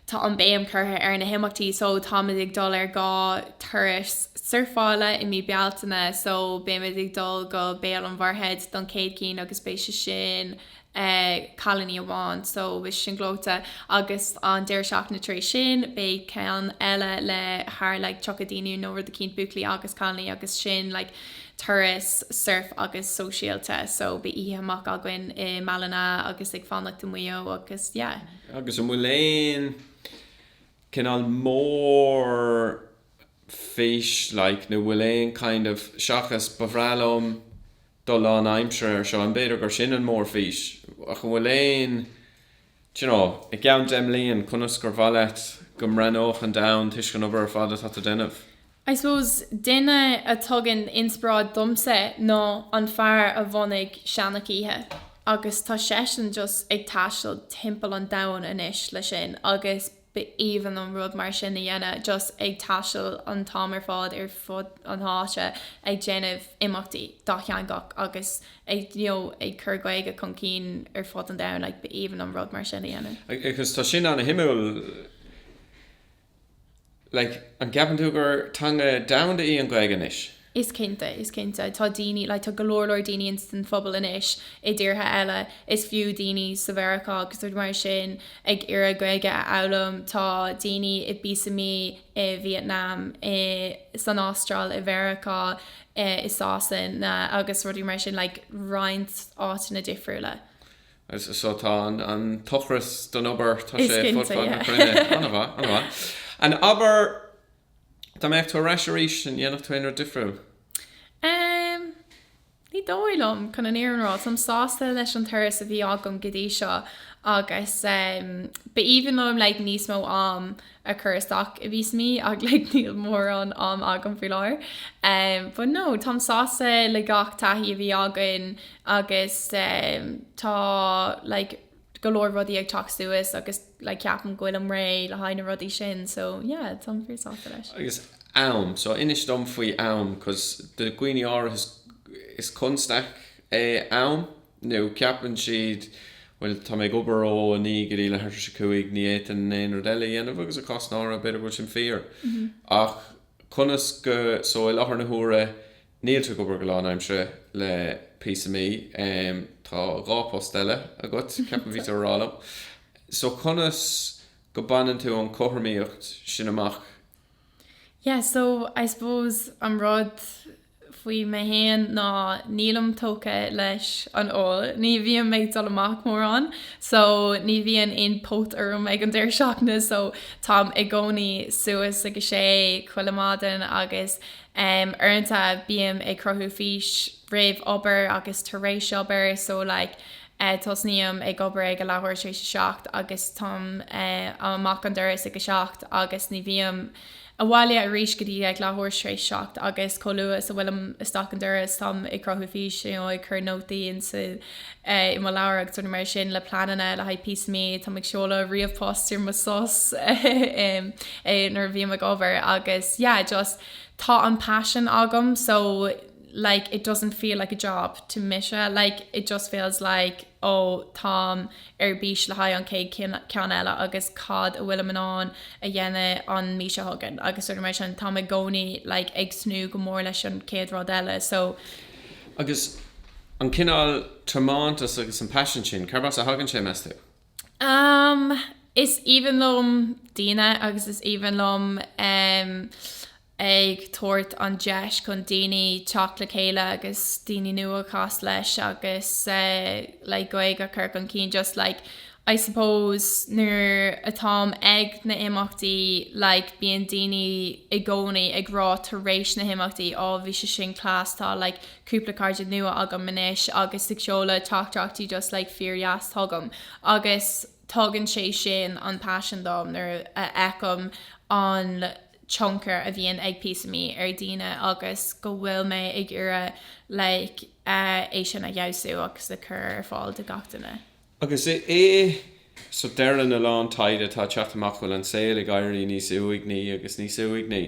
Tá an béim curtha ar na himeachtaí so táimid ag dul ar dhá thuras surfála i mí Bealtaine so beimid ag dul go Béal an Mhuirthead don chéad cinn agus beidh sé sin cailiní amháin so beidh sé sin gleoite agus an deireadh seachtaine tar éis sin beidh ceann eile le thar like 30 daoine nó rud eicínt buachaillí agus cailiní agus sin like turas surf agus sóisialta so beidh oíche amach againn i mBallina agus ag fanacht i Muigh Eo agus yeah. agus an bhfuil aon cineál mór fís like nó bhfuil aon kind of seachas ba bhreá liom dul lán aimsire ar seo an b'fhéidir gur sin an mór fís ach an bhfuil aon d'you know i gceann deich mbliain conas gur mhaith leat go mbreathnódh an domhan toisc an obair ar fad atá tú ag déanamh? I suppose duine a tugann inspioráid domsa ná an fear a bhunaigh Seanchoíche agus tá seisean just ag taisteal timpeall an domhain anois leis sin agus ba aoibhinn liom rud mar sin a dhéanamh just ag taisteal an t-am ar fad ar fud an háite ag déanamh imeachtaí dátheangach agus ag you know ag cur Gaeilge chun cinn ar fud an domhain like ba aoibhinn liom rud mar sin a dhéanamh. Agus tá sin ana shuimiúil. Like, an gceapann tú gur teanga domhanda í an Ghaeilge anois? Is cinnte, is cinnte. Tá daoine, like, tá go leor leor daoine ins an phobal anois i dtíortha eile, is fiú daoine sa Mheiriceá agus rudaí mar sin ag iarraidh Gaeilge a fhoghlaim, tá daoine i bPíosa Mí i Vietnam, i, san Astráil, i Mheiriceá, i Sasana agus rudaí mar sin, like, roinnt áiteanna difriúla. Is so tá an t-ocras don obair, tá sé fud fad na cruinne. An-mhaith, an-mhaith. An abair, dá mbeadh tú ar ais arís, an dhéanfadh tú aon rud difriúil? Em, ní dóigh liom, chun an fhírinne a rá. Táim sásta leis an turas a bhí agam go dtí seo agus, em, b'aoibhinn liom, like, níos mó am. a chur isteach i bPíosa Mí, ach like níl mórán am agam faoi láthair em but no táim sásta le gach taithí a bhí againn agus em tá like go leor rudaí ag teacht suas agus like ceapaim go bhfuilim réidh le haghaidh na rudaí sin so yeah táim fíor sásta leis. Agus am so inis dom faoi am cause do dhaoine áirithe is constaic é am. nó ceapann siad, bhuel, tá mé ag obair ó a naoi go dtí leathuair tar éis a cúig, ní fhéadfainn aon rud eile a dhéanamh agus i gcásanna áirithe, b'fhéidir go bhfuil sin fíor. Ach conas go, so i láthair na huaire, níl tú ag obair go lánaimseartha le Píosa Mí, tá dhá post eile agat, ceapaim bhí tú a rá liom. So conas go baineann tú an chothromaíocht sin amach Yeah so I suppose an rud faoi mé fhéin ná nílim tógtha leis an ól, ní bhím ag dul amach mórán so ní bhíonn aon phóit orm ag an deireadh seachtaine so táim i gcónaí suas ag a sé chuile mhaidin agus em uaireanta bím ag cruthú fís roimh obair agus tar éis obair so like Tosnaím ag obair ag a leathuair tar éis a seacht agus táim amach an doras ag a seacht agus ní bhím abhaile arís go dtí a leathuair tar éis seacht agus chomh luath is a bhfuilim isteach an doras táim ag cruthú fís nó ag cur nótaí ansan i mo leabhar agus rudaí mar sin le pleananna le haghaidh Píosa Mí. Táim ag seoladh ríomhphost ar mo sos nuair a bhím ag obair agus yeah just tá an passion agam so like it doesn't feel like a job to mise like it just feels like ó táim ar bís le haghaidh an chéad ceann eile agus cad a bhfuilim in ann a dhéanamh an mhí seo chugainn agus rudaí mar sin táim i gcónaí like ag tnúth go mór leis an chéad rud eile so. Agus an cineál tiomántas agus an paisean sin, cárb as a thagann sé, meas tú? Um, is aoibhinn liom daoine agus is aoibhinn liom um, ag tabhairt an deis chun daoine teacht le chéile agus daoine nua a chasadh leis agus like Gaeilge a chur chun cinn just like I suppose nuair atáim ag na imeachtaí like bíonn daoine i gcónaí ag rá tar éis na himeachtaí á bhí sé sin class tá like cúpla cairde nua agam anois agus ag seoladh teachtaireachtaí just like fíordheas chugam agus tugann sé sin an paisean dom nuair a fheicim an tionchar a bhíonn ag Píosa Mí ar dhaoine agus go bhfuil mé ag iarraidh like é sin a fheabhsú agus a chur ar fáil do gach duine. Agus i i so deireann a lán taighde atá ag teacht amach go bhfuil an saol ag éirí níos uaigní agus níos uaigní.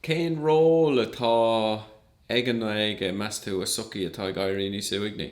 Cén ról atá ag an nGaeilge, meas tú, i sochaí atá ag éirí níos uaigní?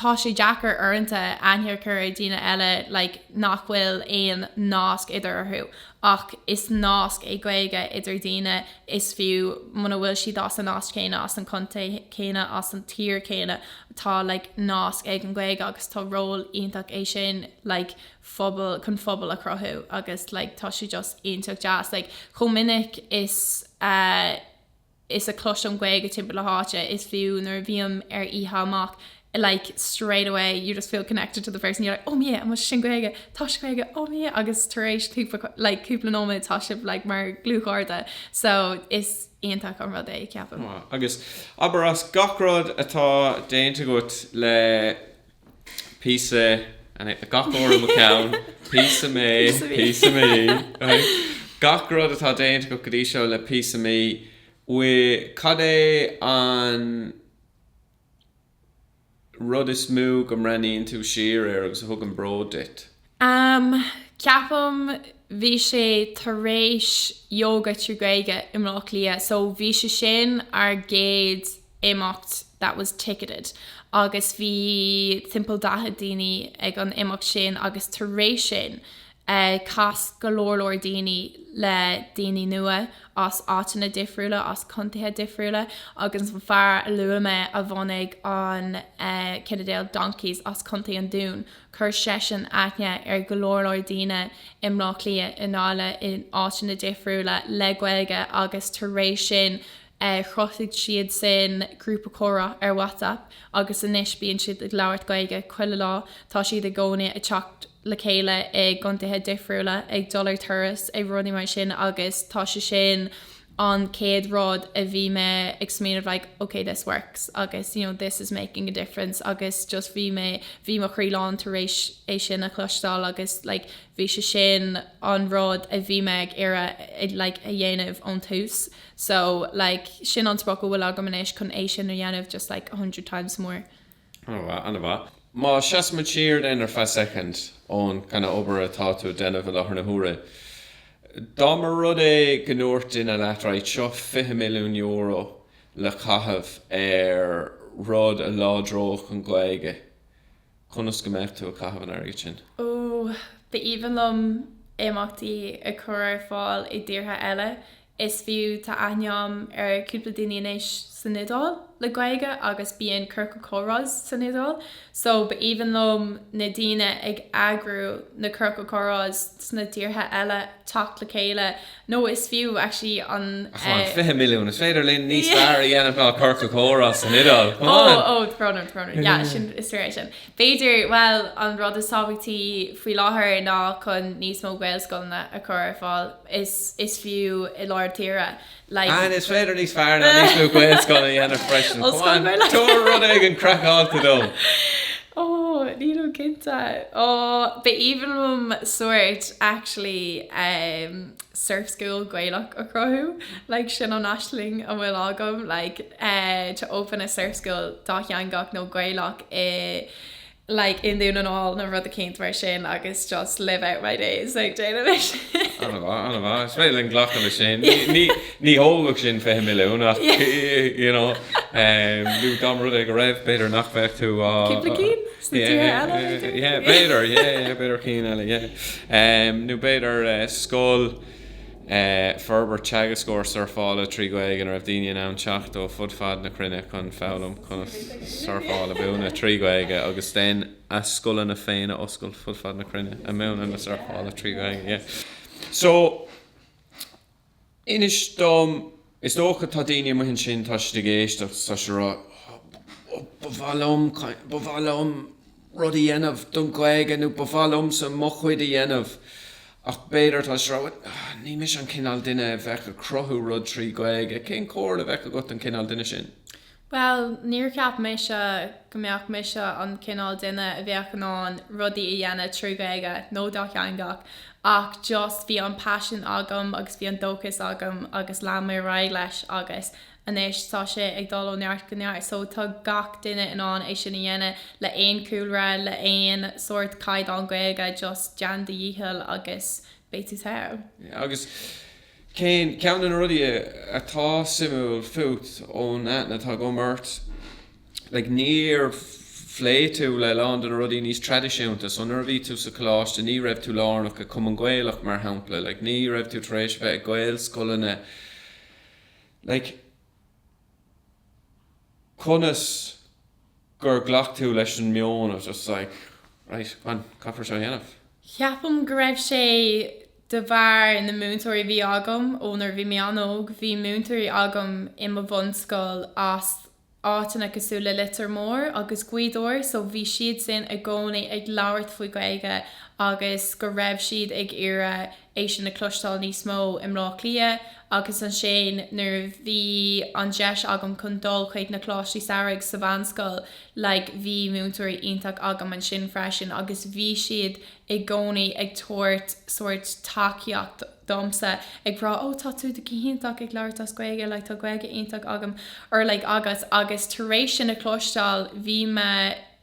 tá sé deacair uaireanta aithne a chur ar dhaoine eile like nach bhfuil aon nasc eatarthu ach is nasc é Gaeilge idir daoine is fiú muna bhfuil siad as an áit chéanna, as an chontae céanna, as an tír chéanna tá like nasc ag an Ghaeilge agus is ról iontach é sin like phobal, chun phobal a chruthú agus like tá sé just iontach deas like chomh minic is a. is a chloisim Gaeilge timpeall na háite is fiú nuair a bhím ar oíche amach like straight away you just feel connected to the person you're like oh my God amuigh ansin Gaeilge tá sé as Gaeilge oh my God agus tar éis cúpla like cúpla nóiméad tá sibh like mar dlúthchairde so is iontach an rud é ceapaim. Agus abair as gach rud atá déanta agat le píosa gach uair i mo cheann, píosa mé, píosa mí, gach rud atá déanta agat go dtí seo le píosa mí, cad é an rud is mó go mbreathnaíonn tú siar air agus a thugann bród duit? Am, Ceapaim bhí sé tar éis Yoga trí Ghaeilge i mBleá Cliath so bhí sé sin ár gcéad imeacht that was ticketed agus bhí timpeall daichead daoine ag an imeacht sin agus tar éis sin chas go leor leor daoine le daoine nua as áiteanna difriúla as contaetha difriúla agus an fear a luaigh mé a bhunaigh an Cinnedale Donkeys as Contae an Dún Chuir seisean aithne ar go leor leor daoine i mBleá Cliath, i nDáil in áiteanna difriúla, le Gaeilge agus tar éis sin chruthaigh siad sin grúpa comhrá ar WhatsApp agus anois bíonn siad ag labhairt Gaeilge chuile lá. Tá siad i gcónaí ag teacht le chéile i gcontaetha difriúla, ag dul ar turas, ag rudaí mar sin agus tá sé sin. an chéad rud a bhí mé ag smaoineamh like ok this works agus you know this is making a difference agus just bhí mé, bhí mo chroí lán tar éis é sin a chloisteáil agus like bhí sé sin an rud a bhí mé ag iarraidh like a dhéanamh ón tús so like sin an sprioc a bhfuil agam anois chun é sin a dhéanamh just like a hundred times more. Ana-mhaith, ana-mhaith. Má sheasaimid siar de sin ar feadh soicind ón gcineál obair atá tú a déanamh i láthair na huaire, dá mba rud é go ndúirt duine leat, right, seo €20 milliún le caitheamh ar rud a láidreodh an Ghaeilge, conas go mbeadh tú ag caitheamh an airgid sin? Ó, b'aoibhinn liom imeachtaí a chur ar fáil i dtíortha eile Is fiú, tá aithne orm ar cúpla daoine anois san Iodáil le Gaeilge agus bíonn ciorcal comhrás san Iodáil so ba aoibhinn liom na daoine ag eagrú na ciorcal comhrás sna tíortha eile teacht le chéile nó is fiú actually an Come on, 20 milliún, is féidir linn níos fearr a dhéanamh ná ciorcal comhrás san Iodáil, come on! Oh, oh, tá brón orm, tá brón orm, yeah, sin, is fíor é sin. B'fhéidir, bhuel, an rud is tábhachtaí faoi láthair ná chun níos mó Gaelscoileanna a chur ar fáil is is fiú i lár na tíre, like. And is féidir níos fearr ná níos mó Gaelscoileanna a dhéanamh freisin. Come on, tabhair rud éigin craiceáilte dom! Oh, nílim cinnte. Oh, b'aoibhinn liom sóirt, actually. surf school Gaelach a chruthú like sin an aisling a bhfuil agam like eh to open a surf school dátheangach nó Gaelach i like i nDún na nGall nó rud eicínt mar sin agus just live out my days like déanamh é sin. Ana mhaith, ana mhaith. Is féidir linn glacadh leis sin. Ní, ní, ní thógfadh sin 20 milliún ach you know, eh, dá mba rud é go raibh, b'fhéidir nach bheadh tú á... Cúpla cinn? Sna tíortha eile, b'fhéidir? Yeah, yeah, b'fhéidir, yeah, yeah, b'fhéidir cinn eile, yeah. Nó b'fhéidir scoil, forbairt teagascóir surfála trí Ghaeilge ina raibh daoine in ann teacht ó fud fad na cruinne chun foghlaim conas surfáil a mhúineadh trí Ghaeilge agus ansin a scoileanna féin a oscailt fud fad na cruinne ag múineadh na surfála trí Ghaeilge, yeah. So, Inis dom, is dócha tá daoine amuigh ansin, tá siad ag éisteacht, tá siad a rá, ó, ba mhaith liom, ba mhaith liom rud a dhéanamh don Ghaeilge nó ba mhaith liomsa mo chuid a dhéanamh ach b'fhéidir tá siad a rá, ní mise an cineál duine a bheadh ag cruthú rud trí Ghaeilge. Cén comhairle a bheadh agat don chineál duine sin? Bhuel, níor cheap mise go mbeadh mise an cineál duine a bheadh in ann rudaí a dhéanamh trí Ghaeilge nó dátheangach ach just bhí an paisean agam agus bhí an dóchas agam agus lean mé ar aghaidh leis agus anois tá sé ag dul ó neart go neart so tá gach duine in ann é sin a dhéanamh le aon chúlra, le aon sórt caighdeán Gaeilge just déan do dhícheall agus beidh tú togha. Yeah, agus. Ceann de na rudaí atá suimiúil fút ón aithne atá agam ort? Like, níor phléigh tú le a lán de na rudaí níos traidisiúnta. So, nuair a bhí tú sa choláiste, ní raibh tú lárnach i Cumann Gaelach, mar shampla. Like, ní raibh tú tar éis a bheith i nGaelscoileanna. Like. conas gur ghlac tú leis an meon of just like right fine caithfear seo a dhéanamh? Ceapaim go raibh sé de bharr na múinteoirí a bhí agam ó nuair a bhí mé an-óg, bhí múinteoirí agam i mo bhunscoil as áiteanna cosúil le Leitir Móir agus Gaoth Dobhair so bhí siad sin i gcónaí ag labhairt faoi Gaeilge agus go raibh siad ag iarraidh é sin a chloisteáil níos mó i mBleá Cliath agus ansin nuair a bhí an deis agam chun dul chuig na Coláistí Samhraidh sa mheánscoil like bhí múinteoirí iontach agam ansin freisin agus bhí siad i gcónaí ag tabhairt sórt tacaíocht domsa ag rá oh tá tú go hiontach ag labhairt as Gaeilge like tá Gaeilge iontach agam or like agat agus tar éis sin a chloisteáil bhí mé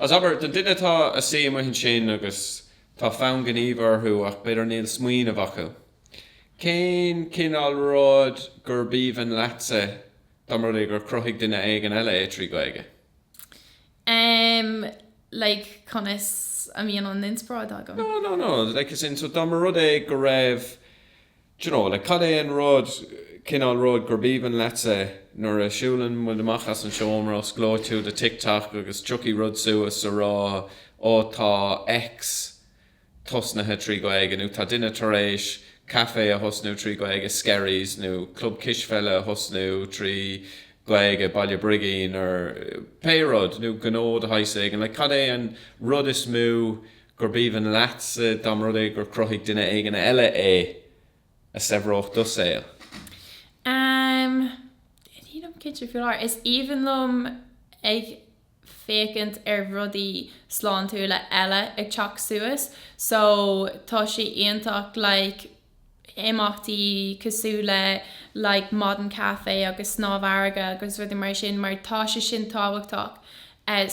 Agus abair do dhuine atá ag suí amuigh ansin agus tá fonn gnímh orthu ach b'fhéidir níl smaoineamh acu. Cén cineál rud gurbh aoibhinn leatsa dá mba rud é gur chruthaigh duine éigin eile é trí Ghaeilge? Em, like, conas a mbíonn an inspioráid agam? No, no, no, like, as in, so dá mba rud é go raibh, Do you know, like, cad é an rud, cineál rud gurbh aoibhinn leatsa é? Nuair a siúlann muid amach as an seomra, osclóidh tú do TikTok agus tiocfaidh rud suas a rá, Ó, tá X tosnaithe trí Ghaeilge, nó tá duine tar éis caife a thosnú trí Ghaeilge, Skerries, nó club cispheile a thosnú trí Ghaeilge, Baile Brigín, or pé rud, nó gnó de shaghas éigin. Like, cad é an rud is mó gurbh aoibhinn leatsa dá mba rud é gur chruthaigh duine éigin eile é a saibhreodh do shaol. Amm, nílim cinnte faoi láthair. Is aoibhinn liom ag féachaint ar rudaí sláintiúla eile ag teacht suas so tá sé iontach like, imeachtaí cosúil le like maidin caife agus snámh farraige agus rudaí mar sin mar tá sé sin tábhachtach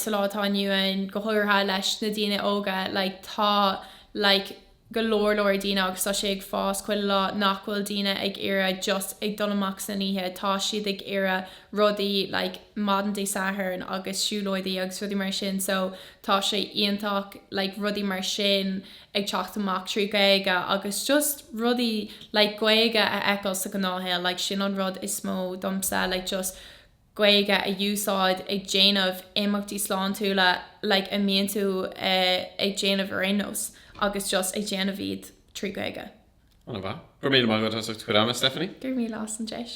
sa lá atá inniu ann go háirithe leis na daoine óga like tá like go leor leor daoine agus tá sé ag fás chuile lá nach bhfuil daoine ag iarraidh just ag dul amach san oíche tá siad ag iarraidh rudaí like maidin Dé Sathairn agus siúlóidí agus rudaí mar sin so tá sé iontach like rudaí mar sin a ag teacht amach trí Ghaeilge agus just rudaí like Gaeilge a fheiceáil sa ghnáthshaol like sin an rud is mó domsa like just Gaeilge a úsáid ag déanamh imeachtaí sláintiúla like a mbíonn tú ag déanamh ar aon nós agus just ag déanamh iad trí Ghaeilge. An-mhaith. Go raibh míle maith agat as ucht do chuid ama, Stephanie. Go raibh míle as an deis.